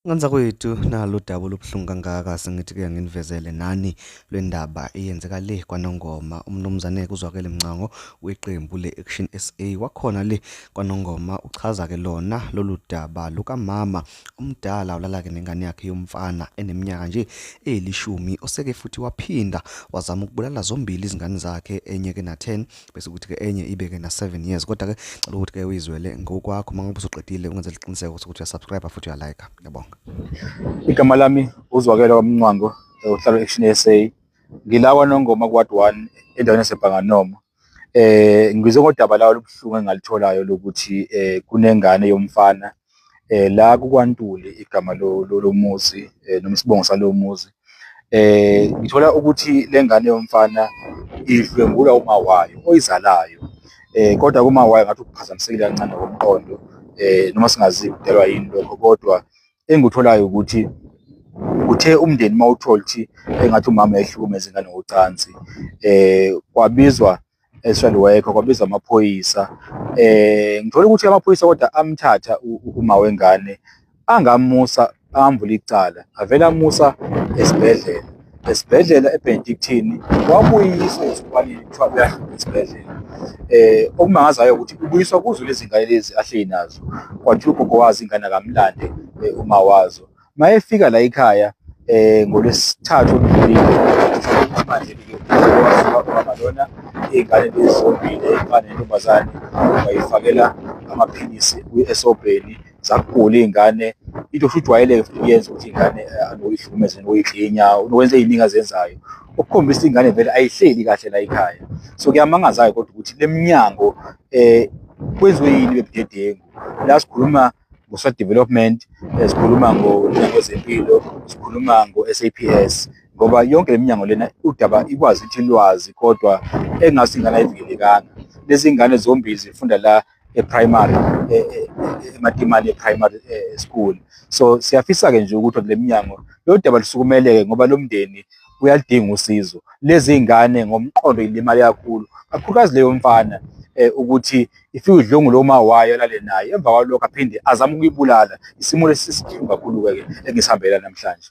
Nganza kwethu nalo daba olubuhlungu kangaka sengithi ke nginivezele nani lwendaba eyenzeka le kwaNongoma umnumzane kuzwakele mncango weqembu le-Action SA wakhona le kwaNongoma uchaza ke lona lolu daba lukamama omdala ulala ke nengane yakhe yomfana eneminyaka nje elishumi oseke futhi waphinda wazama ukubulala zombili izingane zakhe enye ke na 10 bese ukuthi ke enye ibe ke na 7 years kodwa ke cela ukuthi ke uyizwele ngokwakho mangabe usuqedile ungenze liqiniseko ukuthi uya subscribe futhi uya like ngiyabonga igama lami uzwakela kwamncwango uhlala action SA ngilawa nongoma kwad 1 endaweni yaseBhanganoma eh ngizwe ngodaba lawo lobuhlungu engalitholayo lokuthi eh kunengane yomfana eh la kukwantuli igama lomuzi eh, noma isibongo salowo muzi eh ngithola ukuthi lengane yomfana idlwengulwa uma wayo oyizalayo eh kodwa kuma wayo ngathi ukuphazamisekile kancane ngokomqondo eh noma singazi kudelwa yini lokho kodwa engikutholayo ukuthi uthe umndeni mawuthola ukuthi engathi umama ehlukumeza ingane ngocansi eh kwabizwa eStrand Worker kwabizwa amaphoyisa eh ngithola ukuthi amaphoyisa kodwa amthatha uma wengane angamusa ambula icala avela musa esibhedlela esibhedlela eBenedictine wabuyiswa esikhwanini kuthiwa uyahamba esibhedlela eh okumangazayo ukuthi ubuyiswa kuzo lezi ngane lezi ahleli nazo kwathi ugogo wazi ingane akamlande eh, uma wazo mayefika la ekhaya eh ngolwesithathu oludlulile manje ke wasuka ubaba lona iy'ngane lezi zombili ey'fana nentombazane wayifakela amaphilisi kwi-esobheni zakugula iy'ngane into futhi ujwayeleke futhi uyenza ukuthi iy'ngane eh, anoyihlukumeze noyidlinya nokwenza ey'ningi azenzayo okukhombisa ingane vele ayihleli kahle la ekhaya so kuyamangazayo kodwa ukuthi le minyango um kwenziwe yini bebudedengu la sikhuluma kuso-development eh, sikhuluma ngomnyango wezempilo sikhuluma ngo-saps ngoba yonke le minyango lena udaba ikwazi ukuthi lwazi kodwa engathi ingane ayivikelekanga lezi ngane zombili zifunda la e-primary e, e, e, ematimane e-primary school so siyafisa-ke nje ukuthi kule minyango lolu daba lusukumeleke ngoba lo mndeni uyalidinga usizo lezi ngane ngomqondo ilimali kakhulu kakhulukazi leyo mfana eh, ukuthi ifike udlungu lo ma wayo alale naye emva kwalokho aphinde azama ukuyibulala isimo lesi sisihlungu kakhulu-ke engisihambela namhlanje